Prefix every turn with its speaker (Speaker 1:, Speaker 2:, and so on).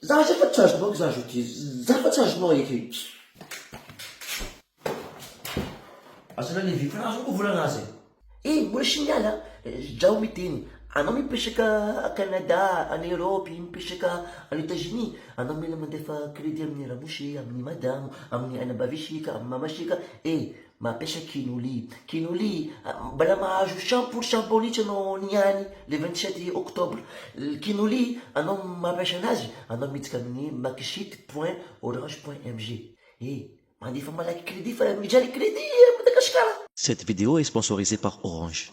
Speaker 1: Za zay fa tsy azonao za zao ty za fa tsy azonao eto ity.
Speaker 2: Azona levi fa azoko volana azy e. Eh mbola sy
Speaker 3: miala Zdrao miteny anao mipetraka a Canada any Europe mipetraka any Etats Unis anao mila mandefa credit amin'ny ramose amin'ny madamo amin'ny ainabaveseka amin'ny mamaseka eh Mampiasa Quinoli. Quinoli, Mbola mahazo cent pour cent bonus anao ny any le vingt sept octobre. Quinoli, Anao mampiasa anazy, anao miditra amin'ny makisite point orange point mg. E, Mandefa malaky
Speaker 4: credit
Speaker 3: fa
Speaker 4: mijaly
Speaker 3: credit
Speaker 4: a
Speaker 3: Madagasikara!
Speaker 4: Cette
Speaker 3: vidéo est
Speaker 4: sponsorisée
Speaker 3: par
Speaker 4: Orange.